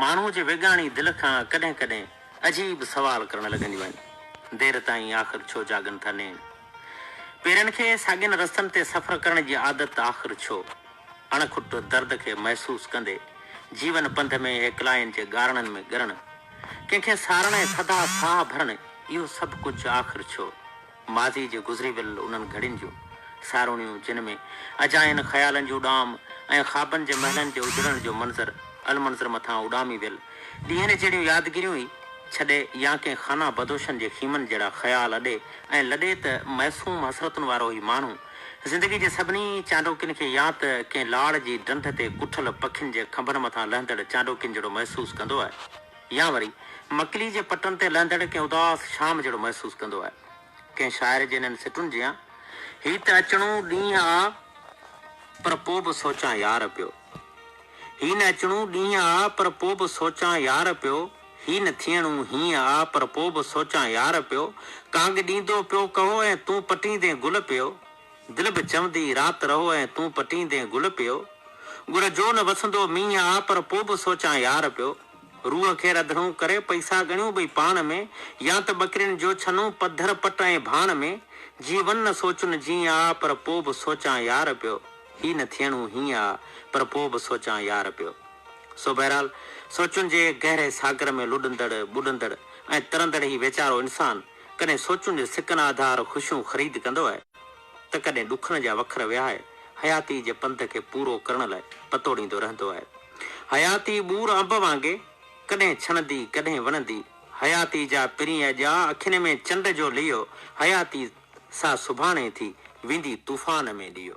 ماڻهوء جي ويڳاڻي دل کان ڪڏهن ڪڏهن عجيب سوال ڪرڻ لڳنديون آهن، دير تائين آخر ڇو جاڳن ٿا نين؟ پيرن کي ساڳين رستن تي سفر ڪرڻ جي عادت آخر ڇو؟ اڻ کٽ درد کي محسوس ڪندي جيون پنڌ ۾ هيڪلائين جي ڳارڻن ۾ ڳرڻ، ڪنهن کي سارڻ ۽ ٿڌا ساهه ڀرڻ اهو سڀ ڪجهه آخر ڇو؟ ماضي جي گذري ويل انهن گهڙين جون ساروڻيون جن ۾ اجاين خيالن جون اڏام ۽ خوابن جي محلن جي اجڙڻ جو منظر المنظر مٿان اڏامي ويل ڏينهن جهڙيون يادگيريون ئي ڇڏي يا ڪنهن خانه بدوشن جي خيمن جهڙا خيال اڏي ۽ لڏي ته معصوم حسرتن وارو هي ماڻهو زندگي جي سڀني چانڊوڪين کي يا ته ڪنهن لاڙ جي ڊنڍ تي ڪٺل پکين جي کنڀن مٿان لهندڙ چانڊوڪين جهڙو محسوس ڪندو آهي. يا وري مڪلي جي پٽن تي لهندڙ ڪنهن اداس شام جهڙو محسوس ڪندو آهي. ڪنهن شاعر جي انهن سٽن جيان، هي ته اچڻو ڏينهن آ، پر پوء به سوچان يار پيو، هي نه اچڻو ڏينهن آ، پر پوء به سوچان يار پيو، هي نه ٿيڻو هينئن آ، پر پوء به سوچان يار پيو، ڪانگ ڏيندو پيو ڪهو ۽ تون پٽيندين گل پيو، دل به چوندي رات رهو ۽ تون پٽيندين گل پيو، ڳڙ جو نه وسندو مينهن آ، پر پوء به سوچان يار پيو. روح کي رڌڻو ڪري پئسا ڳڻيون ٻئي پاڻ ۾، يا ته ٻڪرين جو ڇنون پڌر پٽ ۽ ڀاڻ ۾، جي ون نه سوچن جيئن آ، پر پوء به سوچان يار پيو، هي نه ٿيڻو هيئن آ، پر پوء به سوچان يار پيو. سو بهرحال سوچن جي گهري ساگر ۾ لڏندڙ، ٻڏندڙ ۽ ترندڙ هي ويچارو انسان، ڪڏهن سوچن جي سڪن آڌار خوشيون خريد ڪندو آهي. ته ڪڏهن ڏکن جا وکر وهائي حياتيء جي پنڌ کي پورو ڪرڻ لاء پتوڙيندو رهندو آهي. حياتي ٻور انب وانگي ڪڏهن ڇڻندي، ڪڏهن وڻندي، حياتيء جا پرينء اڄاء، اکين ۾ چنڊ جو ليئو، حياتي سا سڀاڻي ٿي، ويندي طوفان ۾ ليئو.